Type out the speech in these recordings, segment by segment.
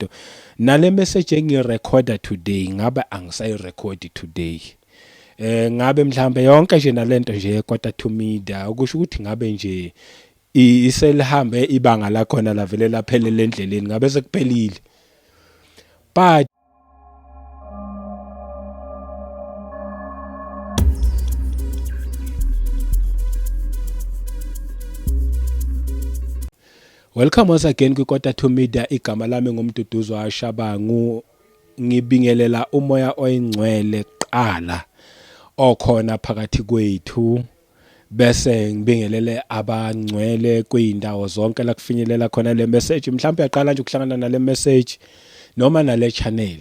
lento nale message engirecorda today ngabe angisayirecordi today eh ngabe mhlambe yonke nje nalento nje quarter to media ukusho ukuthi ngabe nje iselihambe ibanga la khona la vele laphelele endleleni ngabe sekuphelile but Welcome once again kwiKota to Media igama lami ngumduduzo Ashabangu ngibingelela umoya oyingcwele kuqala okhona phakathi kwethu bese ngibingelele abangcwele kwindawo zonke la kufinyelela khona le message mhlawumbe uyaqala nje ukuhlangana nale message noma nale channel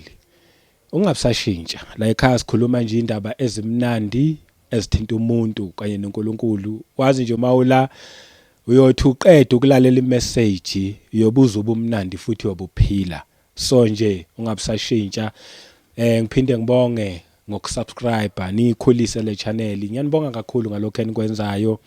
Ungabsashintsha la ekhaya sikhuluma nje indaba ezimnandi ezithinta umuntu kanye noNkulunkulu wazi nje uma ula uyothi uqede ukulalela imessage uyobuza ubumnandi futhi uyobuphila so nje ungabsashintsha eh ngiphinde ngibonge ngokusubscribe niyikhulise le channel ngiyanibonga kakhulu ngalokho enikwenzayo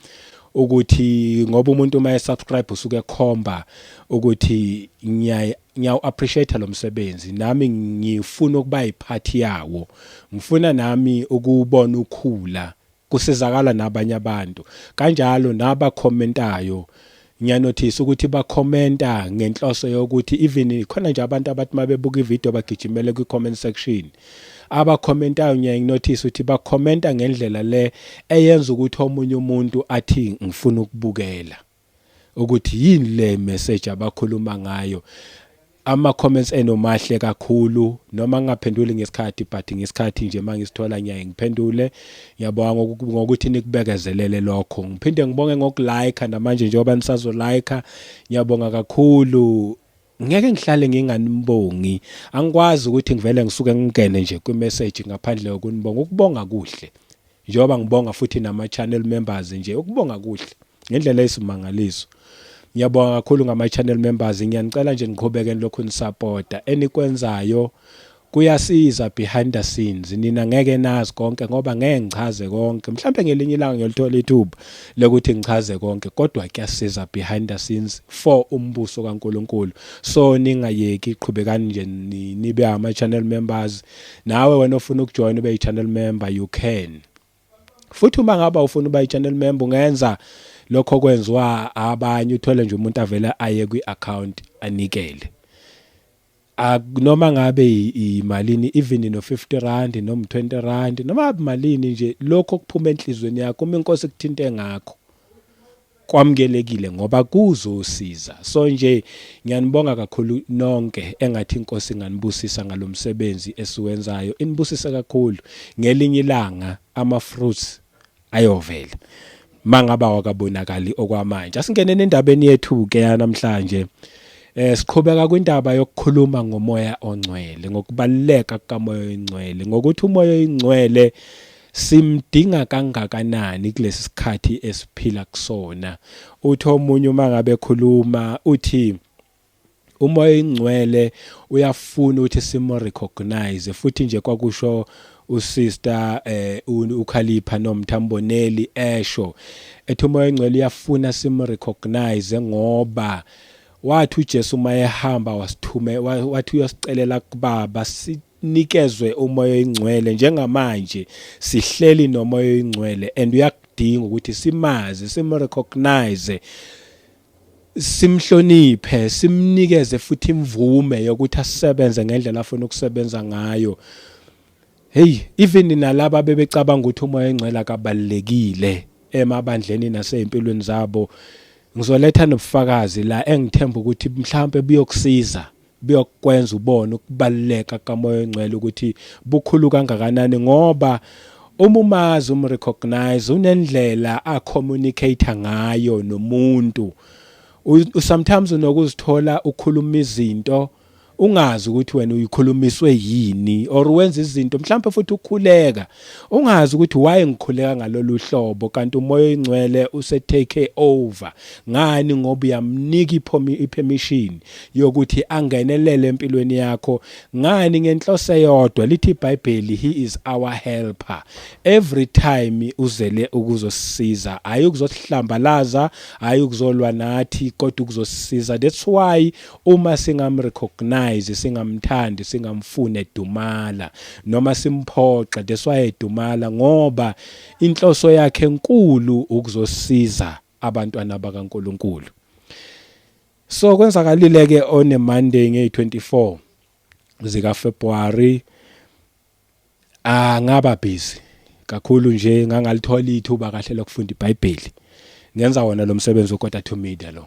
ukuthi ngoba umuntu uma esubscribe usuke ekhomba ukuthi ngiyaye Ngiyawu appreciate lo msebenzi nami ngifuna ukuba yiphathi yawo. Ngifuna nami ukuwubona ukhula kusizakala nabanye abantu. Kanjalo naba commentayo ngiyanothisa ukuthi ba commenta ngenhloso yokuthi even khona nje abantu abathi mabebuka ivideo bagijimele kwi comment section. Aba commentayo ngiyaye nginothise ukuthi ba commenta ngendlela le eyenza ukuthi omunye umuntu athi ngifuna ukubukela. ukuthi yini le message abakhuluma ngayo ama comments eno mahle kakhulu noma ngingaphenduli ngesikhathi but ngesikhathi nje mangisithola ngiyaye ngiphendule ngiyabonga ngokuthi nikubekezelele lokho ngiphinde ngibonge ngokulike namanje njengoba nisazo like ngiyabonga kakhulu ngeke ngihlale nginganibongi angikwazi ukuthi ngivele ngisuke ngingene nje kwi-message ngaphandle kokunibonga ukubonga kuhle njengoba ngibonga futhi nama-channel members nje ukubonga kuhle ngendlela eyisimangaliso ngiyabonga kakhulu ngama-channel members ngiyanicela nje niqhubeke nilokhu nisapota enikwenzayo Kuyasiza behind the scenes nina ngeke nazi konke ngoba ngeke ngichaze konke mhlambe ngelinye ilanga ngiyolithola ithuba lokuthi ngichaze konke kodwa kuyasiza behind the scenes for umbuso kaNkuluNkulu so ningayeki qhubekani nje nibe ama channel members nawe wena ofuna ukujoin ube i channel member you can futhi uma ngaba ufuna uba i channel member ungenza lokho kwenziwa abanye uthole nje umuntu avele aye kwi account anikele Noma ngabe yimalini even no 50 rand noma 20 rand noma malini nje lokho okuphuma enhlizweni yakho uma inkosi kuthinte ngakho kwamukelekile ngoba kuzosiza so nje ngiyanibonga kakhulu nonke engathi inkosi inganibusisa ngalomsebenzi esiwenzayo inibusise kakhulu ngelinye ilanga ama fruits ayovela mangaba wakabonakali okwamanje asingene nendabeni yethu ke yanamhlanje Eh siqhubeka kwindaba yokukhuluma ngomoya ongcwele ngokubaluleka kukamoya oyingcwele ngokuthi umoya oyingcwele simdinga kangakanani kulesi sikhathi esiphila kusona uthi omunye uma ngabe khuluma uthi umoya oyingcwele uyafuna ukuthi simo recognize futhi nje kwakusho usister eh ukhalipha nomthamboneli esho ethi umoya oyingcwele uyafuna simo recognize ngoba wathi uJesu uma ehamba wasithume wathi uyosicelela kubaba sinikezwe umoya oyingcwele njengamanje sihleli nomoya oyingcwele and uyakudinga ukuthi simazi simu recognize simhloniphe, simnikeze futhi imvume yokuthi asebenze ngendlela afuna ukusebenza ngayo. Hey, even nalabo abebecabanga ukuthi umoya engcwele akabalekile emabandleni nasezimpilweni zabo, ngizoletha nobufakazi la engithemba ukuthi mhlawumbe buyokusiza. buyokwenza ubone ukubaluleka kaMoya oNgcwele ukuthi bukhulu kangakanani ngoba uma umazi umrecognize unendlela acommunicate ngayo nomuntu sometimes unokuzithola ukhuluma izinto ungazi ukuthi wena uyikhulumiswe yini or wenza izinto mhlawumbe futhi ukhuleka Ungazi ukuthi why ngikhuleka ngalolu hlobo kanti umoya oyingcwele use take over ngani ngoba uyamnika ipermission yokuthi angenelele empilweni yakho ngani ngenhloso eyodwa lithi iBhayibheli he is our helper every time uzele ukuzosisiza hayi ukuzosihlambalaza hayi ukuzolwa nathi kodwa ukuzosisiza that's why Uma singam recognize singamthandi singamfuni edumala noma simphoxe that's why edumala ngoba inhloso yakhe enkulu ukuzosiza abantwana bakaNkuluNkulu. So kwenzakalile ke on a Monday ngeyi24 zika February angaba ah, busy kakhulu nje ngangalithola ithuba kahle lokufunda iBhayibheli ngenza wona lo msebenzi weKota to Media lo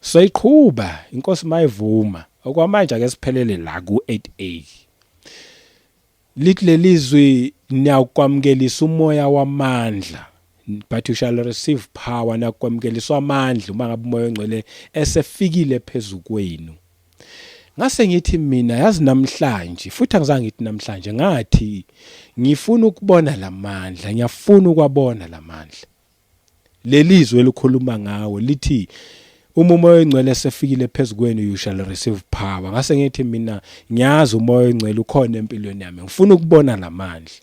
Soyiqhuba inkosi mayivuma. Okwamanje ake siphelele la ku-8A. Lithi lelizwi niyakwamukelisa umoya wamandla but you shall receive power nakwamukeliswa amandla uma ngabe umoya ongcwele esefikile phezu kwenu ngase ngithi mina yazi namhlanje futhi angizange ngithi namhlanje ngathi ngifuna ukubona lamandla ngiyafuna ukwabona lamandla Lelizwe elikhuluma ngawe lithi uma umoya oyingcwele esefikile phezu kwenu you shall receive power ngase ngithi mina ngiyazi umoya oyingcwele ukhona empilweni yami ngifuna ukubona lamandla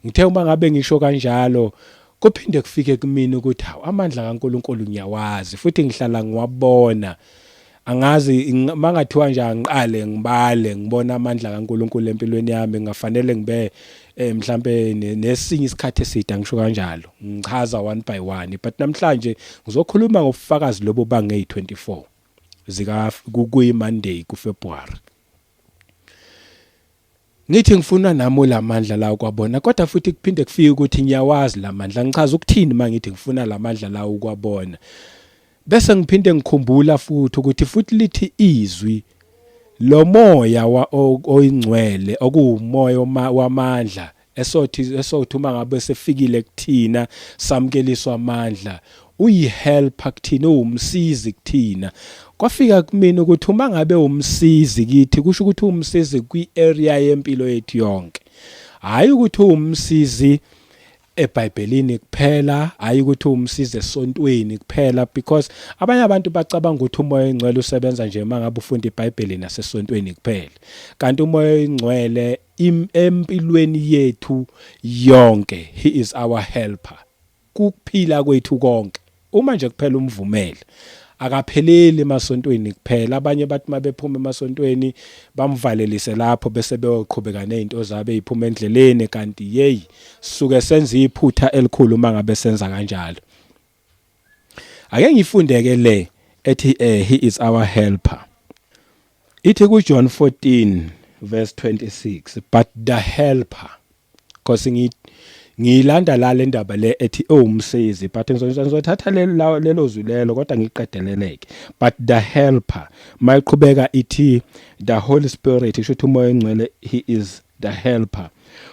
ngithe uma ngabe ngisho kanjalo kuphinde kufike kumina ukuthi hawu amandla kaNkuluNkulu ngiyawazi futhi ngihlala ngiwabona angazi mangathiwa nje angiqale ngibale ngibona amandla kaNkuluNkulu empilweni yami ngafanele ngibe eh mhlambe nesinye isikhathi eside angisho kanjalo ngichaza one by one but namhlanje ngizokhuluma ngobufakazi lobo bange 24 zika kuyi Monday ku February Ngithi ngifuna nami lamandla lawo kwabona kodwa futhi kuphinde kufike ukuthi ngiyawazi lamandla ngichaza ukuthini mangithi ngifuna lamandla lawo kwabona bese ngiphinde ngikhumbula futhi ukuthi futhi lithi izwi lo moya oyingcwele okuwumoya wamandla esothi esothi uma ngabe sefikile kuthina samkeliswa amandla uyihelper kuthina uwumsizi kuthina kwafika kumina ukuthi uma ngabe umsizi kithi kusho ukuthi umsizi kwi-area yempilo yethu yonke hhayi ukuthi uwumsizi ebhayibhelini kuphela hhayi ukuthi uwumsizi esontweni kuphela because abanye abantu bacabanga ukuthi umoya oyingcwele usebenza nje uma ngabe ufunda ibhayibheli nasesontweni kuphela kanti umoya oyingcwele empilweni yethu yonke he is our helper kukuphila kwethu konke uma nje kuphela umvumele akapheleli emasontweni kuphela abanye bathi mabephuma emasontweni bamvalelise lapho bese beyoqhubeka nezinto zabo eziphuma endleleni kanti hey suke senza iphutha elikhulu uma ngabe senza kanjalo ake ngifundeke le ethi eh he is our helper ithi ku John 14 verse 26 but the helper cause ngi ngiyilanda la le ndaba le ethi ewumsizi but ngizothatha lelo zwi lelo kodwa ngiqedeleleke but the helper mayiqhubeka ithi the holy spirit isho ukuthi umoya engcwele he is the helper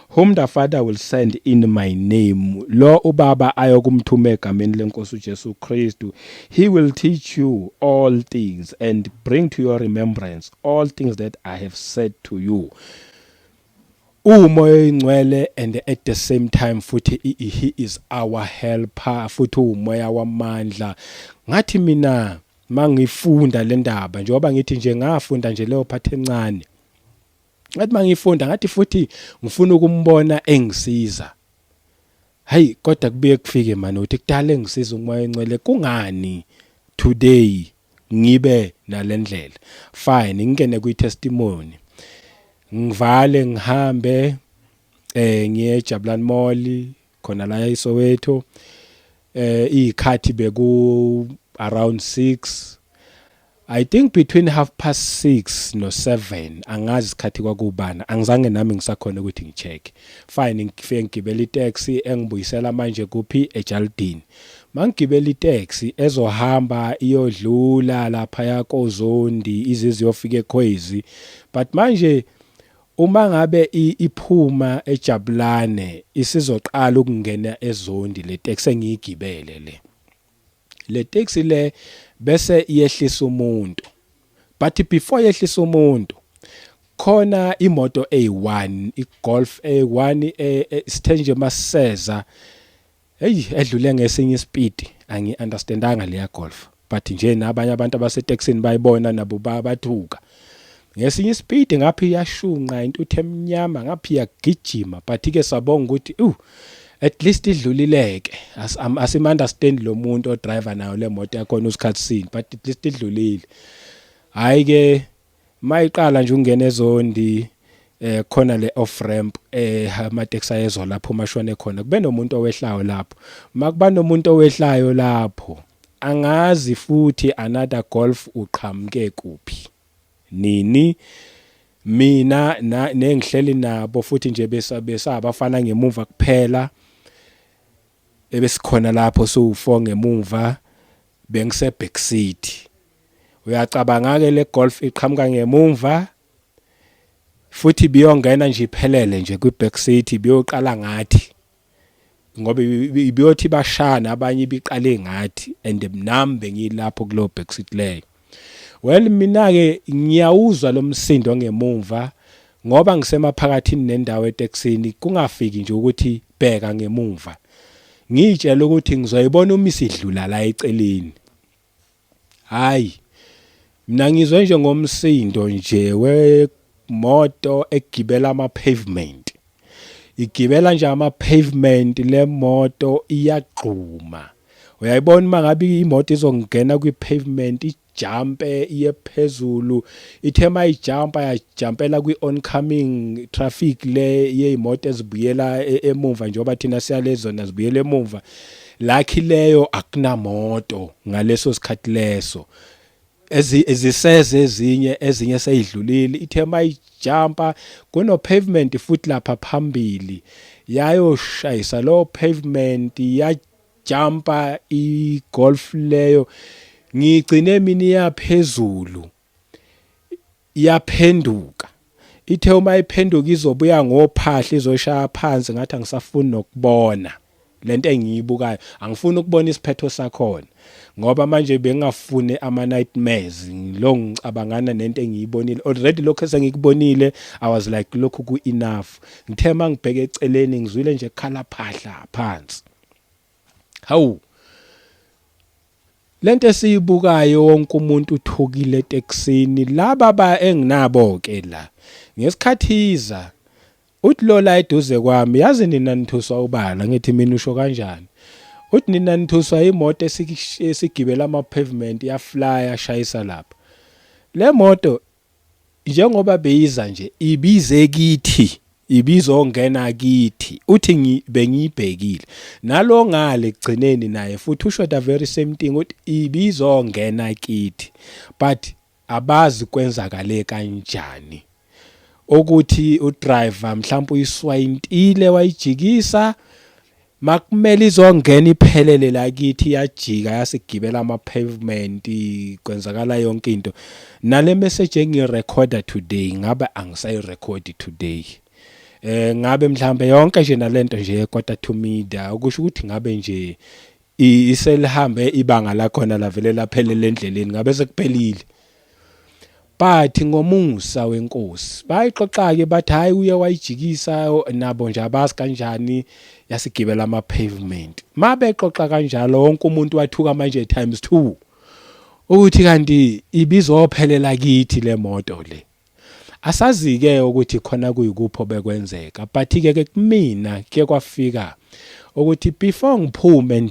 whom the father will send in my name lo ubaba ayokumthuma egameni lenkosi uJesu Kristu he will teach you all things and bring to your remembrance all things that i have said to you uwumoya oyingcwele and at the same time futhi he is our helper futhi uwumoya wamandla ngathi mina mangifunda le ndaba njengoba ngithi nje ngafunda nje leyo phathi encane ngathi mangifunda ngathi futhi ngifuna ukumbona engisiza hayi kodwa kubuye kufike manje ukuthi kudala engisiza umoya encwele kungani today ngibe nalendlela fine ngingene kwi testimony ngivale ngihambe eh ngiye eJabulani Mall khona la eSoweto eh izikhathi beku around 6 I think between half past 6 no 7 angazi isikhathi kwakubana angizange nami ngisakhona ukuthi ngicheck fine ngifike ngigibela itaxi engibuyisela manje kuphi eJaldini mangigibela itaxi ezohamba iyodlula lapha yakozondi izizi yofika ekhwezi but manje uma ngabe iphuma ejabulane isizoqala ukungena ezondi le taxi engiyigibele le le taxi le bese yehlisa umuntu but before yehlisa umuntu khona imoto eyi1 igolf eyi1 e, e, sithenje maseza Hey edlule ngesinye ispeed angi understandanga leya golf but nje nabanye abantu abasetaxini bayibona nabo bathuka ngesinye ispeed ngaphi yashunqa intuthu emnyama ngaphi yagijima but ke sabonga ukuthi uh at least idlulileke as um, as im understand lo muntu odriver nayo le moto yakhona usikhathi sini but at least idlulile hayi ke mayiqala nje ungena ezondi eh khona le off ramp eh amateksi ayezwa lapho mashwane khona kube nomuntu owehlayo lapho makuba nomuntu owehlayo lapho angazi futhi another golf uqhamuke kuphi nini mina nengihleli nabo futhi nje besabafana ngemuva kuphela ebesikhona lapho so4 ngemuva bengise back seat uyacabanga-ke le golf iqhamuka ngemumva futhi biyongena nje iphelele nje kwi-back seat ibiyoqala ngathi ngoba ibiyothi bashana abanye ibiqale ngathi and nami bengilapho kulowo back seat leyo well mina-ke ngiyawuzwa lo msindo ngemumva ngoba ngisemaphakathini nendawo etekisini kungafiki nje ukuthi bheka ngemumva ngiyitshela ukuthi ngizoyibona uma isidlula la eceleni Hayi. Mina ngizwe nje ngomsindo nje wemoto egibela ama pavement. Igibela nje ama pavement lemoto iyagxuma. Uyayibona uma ngabe imoto izongena kwi pavement ijumpe iye phezulu. Ithe mayijumpa yajumpela kwi oncoming traffic le yezimoto ezibuyela e, emumva njengoba thina siyalezona zibuyela emumva. Lucky leyo akunamoto ngaleso sikhathi leso. eziseze ezinye ezinye seyidlulile ithe mayijumpa kuno pavement futhi lapha phambili yayoshayisa lo pavement yajumpa igolf leyo ngigcine mina iyaphezulu iyaphenduka ithe uma iphenduka izobuya ngophahla izoshaya phansi ngathi angisafuni nokubona lento engiyibukayo angifuni ukubona isiphetho sakhona ngoba manje bengafune ama nightmares ngilo ngicabangana nento engiyibonile already lokho esengikubonile i was like lokhu ku enough ngithe mangibheke eceleni ngizwile nje khala phahla phansi Hawu. Lento esiyibukayo wonke umuntu uthukile eTexini laba ba enginabo ke la. Ngesikhathi iza uthi lola eduze kwami yazi nina nithuswa ubala ngithi mina usho kanjani. Uthi nina nithuswa imoto esigibela ama pavement ya flyer shayisa lapha. Le moto njengoba beyiza nje ibize kithi ibizongena kithi uthi ngi bengiyibhekile nalo ngale kugcineni naye futhi usho the very same thing uthi ibizongena kithi but abazi kwenzakale kanjani ukuthi udriver mhlawumbe uyiswayintile wayijikisa Makumele izongena iphelele la kithi yajika yasigibela ama pavement kwenzakala yonke into. Nale message engirecorda today ngabe angisayirecord today. Eh ngabe mhlambe yonke nje nalento nje quarter to media ukusho ukuthi ngabe nje iselihambe ibanga la khona lavele laphelele endleleni ngabe sekuphelile. but ngomusa wenkosi bayixoxa-ke bathi hhayi uye wayijikisa nabo nje abazi kanjani yasigibela ama-pavement ma bexoxa kanjalo wonke umuntu wathuka manje times two ukuthi kanti ibizophelela kithi le moto le asazi-ke ukuthi khona kuyikupho bekwenzeka but-ke ke kumina ke kwafika ukuthi before ngiphume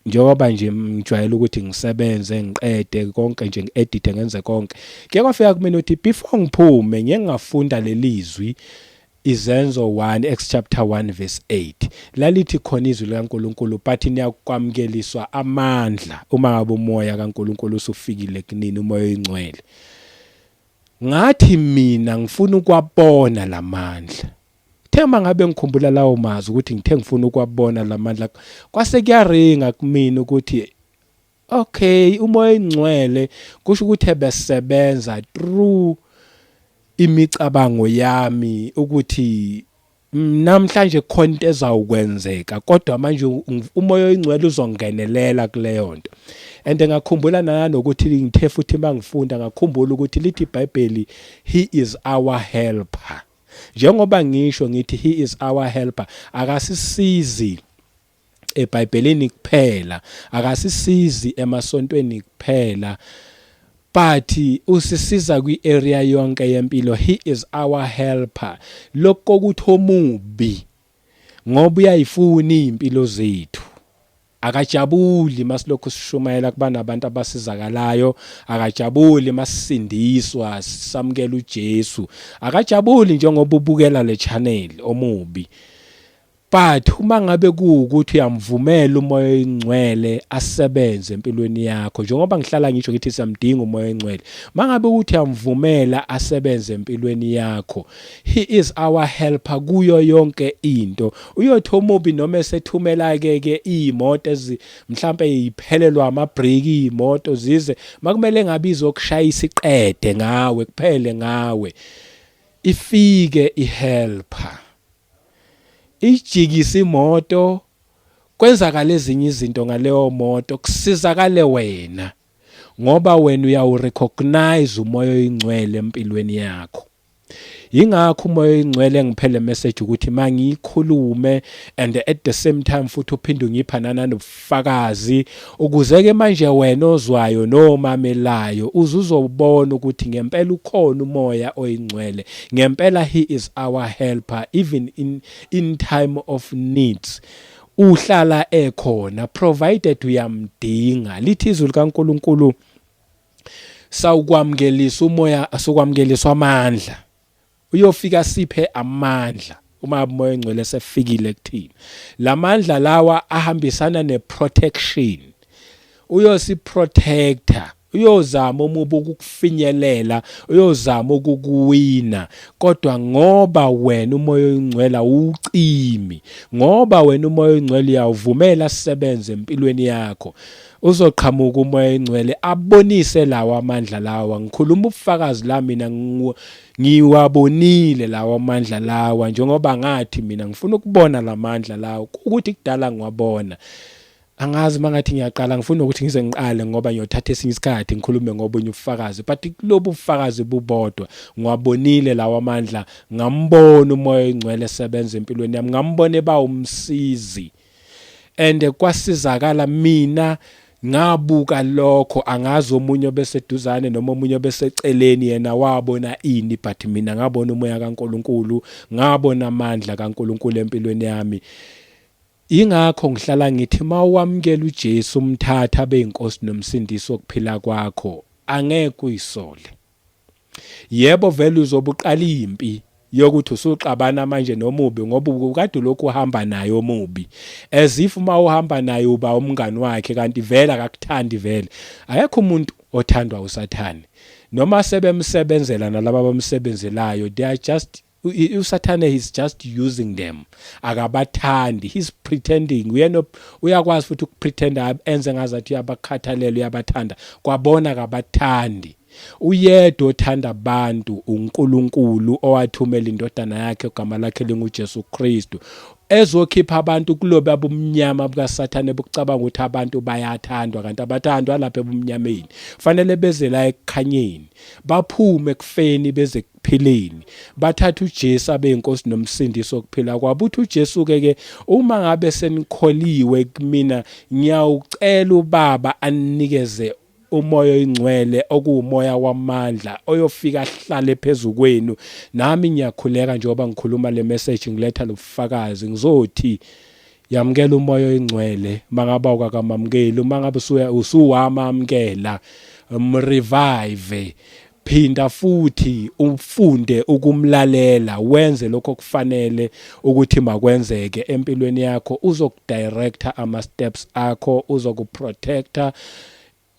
njengoba nje ngijwayele ukuthi ngisebenze ngiqede konke nje ngi-edithe ngenze konke kuye kwafika kumina ukuthi before ngiphume ngeke ngafunda leli zwi izenzo 1 Acts chapter 1 verse 8 lalithi khona izwi likaNkuluNkulu but niyakwamukeliswa amandla uma ngabe umoya kaNkuluNkulu usufikile kunini umoya oyingcwele ngathi mina ngifuna ukwabona lamandla Kuthe uma ngabe ngikhumbula lawo mazwi ukuthi ngithe ngifuna ukwabona la mandla kwase kuyaringa kumina ukuthi okay umoya ingcwele kusho ukuthi ebesebenza through imicabango yami ukuthi namhlanje khona into ezawukwenzeka kodwa manje umoya oyingcwele uzongenelela kuleyo nto and ngakhumbula nanokuthi ngithe futhi mangifunda ngakhumbula ukuthi lithi iBhayibheli he is our helper Njengoba ngisho ngithi he is our helper akasisizi eBhayibhelini kuphela akasisizi emasontweni kuphela but usisiza kwi area yonke yempilo he is our helper lokho ukuthi omubi ngoba uyayifuna impilo zethu Akajabuli masilokhu sishumayela kuba nabantu abasizakalayo, akajabuli masisindiswa samukela uJesu. Akajabuli njengoba ubukela le channel omubi. But uma ngabe kuwukuthi uyamvumela umoya oyingcwele asebenze empilweni yakho njengoba ngihlala ngisho ngithi siyamdinga umoya oyingcwele. Mangabe ukuthi uyamvumela asebenze empilweni yakho, He is our helper kuyo yonke into. Uyothi omubi noma esethumela ke ke imoto ezi mhlambe iphelelwa ama break imoto zize makumele ngabe izokushaya isiqede ngawe kuphele ngawe. Ifike i helper. Ijikisa imoto kwenzakala ezinye izinto ngaleyo moto kusizakale wena ngoba wena uyawurecognize umoya oyingcwele empilweni yakho. yingakho umoya oyingcwele engiphele message ukuthi mangiyikhulume and at the same time futhi uphinde ungipha nanobufakazi ukuze ke manje wena ozwayo nomamelayo uzuzobona ukuthi ngempela ukhona umoya oyingcwele ngempela he is our helper even in in time of needs uhlala ekhona provided uyamdinga lithi izwi likaNkuluNkulu sawukwamkelisa umoya sokwamkeliswa amandla uyofika siphe amandla uma umoya engcwele sefikile kuthina lamandla lawa ahambisana neprotection uyosiprotector uyozama umubi ukukufinyelela uyozama ukukuwina kodwa ngoba wena umoya oyingcwela ucimi ngoba wena umoya oyingcwele uyawuvumela sisebenze empilweni yakho Uzoqhamuka umoya oyingcwele abonise lawo amandla lawa. Ngikhuluma ubufakazi la mina ngiwabonile lawo amandla lawa njengoba ngathi mina ngifuna ukubona la mandla lawo ukuthi kudala ngiwabona. Angazi uma ngathi ngiyaqala ngifuna ukuthi ngize ngiqale ngoba ngiyothatha esinye isikhathi ngikhulume ngobunye ubufakazi but kulobu bufakazi bubodwa ngiwabonile lawo amandla ngambona umoya oyingcwele esebenza empilweni yami ngambona eba umsizi and kwasizakala mina ngabuka lokho angazi omunye obeseduzane noma omunye obeseceleni yena wabona ini but mina ngabona umoya kaNkuluNkulu ngabona amandla kaNkuluNkulu empilweni yami ingakho ngihlala ngithi mawamkela uJesu umthatha abe inkosi nomsindisi wokuphila kwakho angeke uyisole Yebo vele uzobe uqala impi yokuthi usuxabana manje nomubi ngoba ubukade ulokhu uhamba naye omubi as if uma uhamba naye uba umngani wakhe kanti vele akakuthandi vele akekho umuntu othandwa usathane noma sebemsebenzela nalaba abamsebenzelayo they are just usathane he's just using them akabathandi he's pretending uyena uyakwazi futhi ukupretenda enze ngazathi uyabakhathalela uyabathanda kwabona akabathandi uyedwa othanda abantu uNkulunkulu owathumela indodana yakhe ogama lakhe linguJesu Kristu ezokhipha abantu kulobe abumnyama bukasathane bokucabanga ukuthi abantu bayathandwa kanti abathandwa lapha ebumnyameni fanele beze la ekukhanyeni baphume ekufeni beze phileni bathatha uJesu abe inkosi nomsindisi okuphila kwabo uthi uJesu ke ke uma ngabe senikholiwe kumina ngiyawucela ubaba anikeze umoya oyingcwele okuwumoya wamandla oyofika ahlale phezu kwenu nami ngiyakhuleka njengoba ngikhuluma le message ngiletha lobufakazi ngizothi Yamukela umoya oyingcwele mangaba ukakamamukeli uma ngabe usuya usuwamamukela mrevive phinda futhi ufunde ukumlalela wenze lokho kufanele ukuthi makwenzeke empilweni yakho uzokudirector ama steps akho uzokuprotector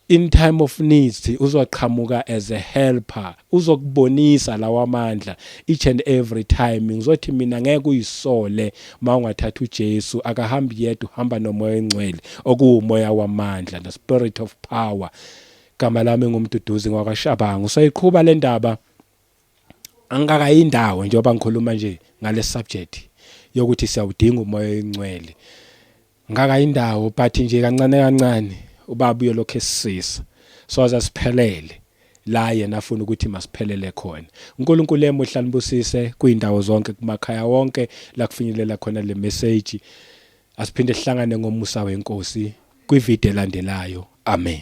In time of needs uzoqhamuka as a helper uzokubonisa lawa mandla each and every time ngizothi mina ngeke uyisole mawungathatha uJesu akahambi yedwa uhamba nomoya engcwele okuwumoya wamandla the spirit of power gama lami ngumduduzi ngwakashabanga usayiqhuba le ndaba angikakayi indawo njengoba ngikhuluma nje ngale subject yokuthi siyawudinga umoya oyingcwele Ngaka indawo but nje kancane kancane ubaba uyolokhu esisisa soze siphelele la yena afuna ukuthi masiphelele khona. UNkulunkulu emuhle anibusise kuyindawo zonke kumakhaya wonke la kufinyelela khona le message. Asiphinde sihlangane ngomusa weNkosi kwivideo elandelayo. Amen.